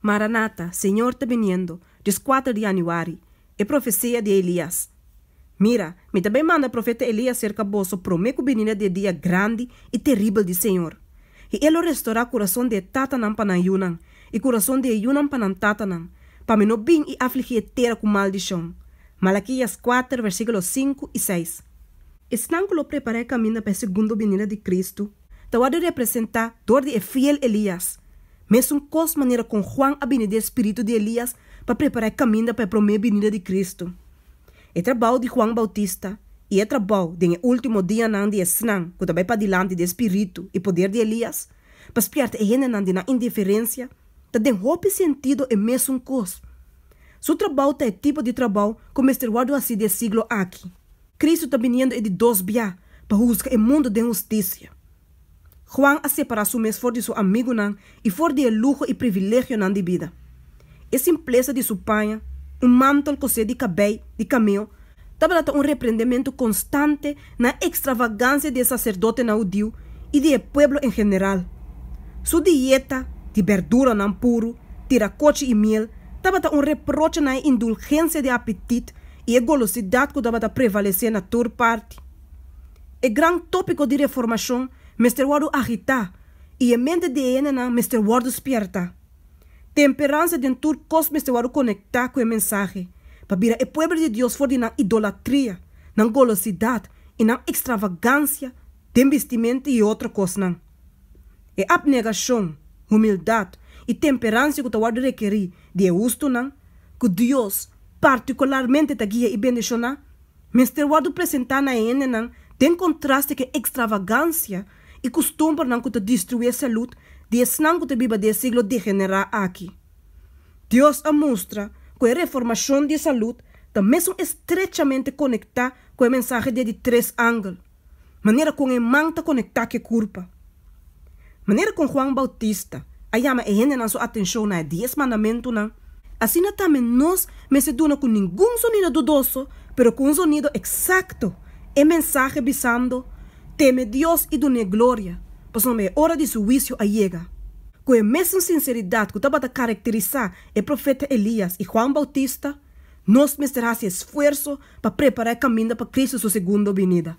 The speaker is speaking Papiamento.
Maranata, Señor ta biniendo, Dios kuater di Januari, e profesia di Elias. Mira, mi ta bai manda profeta Elias serka boso promé ku bininda di e dia grandi i teribel di Señor. I e lo restorá kurason di e tatanan pa nan yunan, i kurason di e yunan pa nan tatanan, pa mi no bin i afligí e tera ku maldishon. Malakias kuater, versíkulo sinku i seis. Esnan ku lo prepará e kaminda pa e segundo bininda di Kristu, ta wòrdu representá dor di e fiel Elías. Mesun kos manera kon Huan a bini di e spiritu di Elías pa prepará e kaminda pa e promé binida di Kristu. E trabou di Huan Bautista i e trabou den e último dianan di esnan ku ta bai padilanti di e spiritu i poder di Elías pa spièrta e hendenan di nan indiferensia ta den hopi sentido e mesun kos. Su trabou ta e tipo di trabou ku mester wòrdu hasí di e siglo aki. Kristu ta biniendo e di dos bia pa husga e mundu den hustisia. Juan a separá su mes for di su amigunan i for di e luho i privilegionan di bida. E simplesa di su paña, un mantol kosé di kabei di kameo, tabata ta un reprendementu konstante na e ekstravagansia di e saserdotenan hudiu i di e pueblo en general. Su dieta di berduranan puru, tirakochi i miel tabata un reproche na e indulgensia di apetit i e golosidat ku tabata prevalesé na tur parti. E gran tópiko di reformashon mester wòrdu agitá i e mente di e hendenan mester wòrdu spierta. Temperansa den tur kos mester wòrdu konektá ku e mensahe pa bira e pueblo di Dios for di nan idolatria, nan golosidat i nan ekstravagansia den bistimentu i otro kosnan. E apnegashon, humildat i temperansia ku ta wòrdu rekerí di e hustunan ku Dios partikularmente ta guia i bendishoná, mester wòrdu presentá na e hendenan den kontraste ku e ekstravagansia i kustumbernan ku ta destruí e salud di esnan ku ta biba den e siglo degenerá aki. Dios a mustra ku e reformashon di e salud ta mesun estrechamente konektá ku e mensahe di e di tres angel. manera kon e man ta konektá ku e kurpa. Manera kon Juan Boutista a yama e hendenan su atenshon na e Dies Mandamentunan, asina tambe nos mester duna ku ningun sonido dudoso, pero ku un sonido eksakto, e mensahe bisando, Teme Dios i dun'é gloria, pasobra e ora di su huisio a yega. Ku e mesun sinseridat ku tabata karakterisá e profeta Elias i Juan Boutista, Nos mester hasi esfuerso pa prepará e kaminda pa Kristu su segundo binida.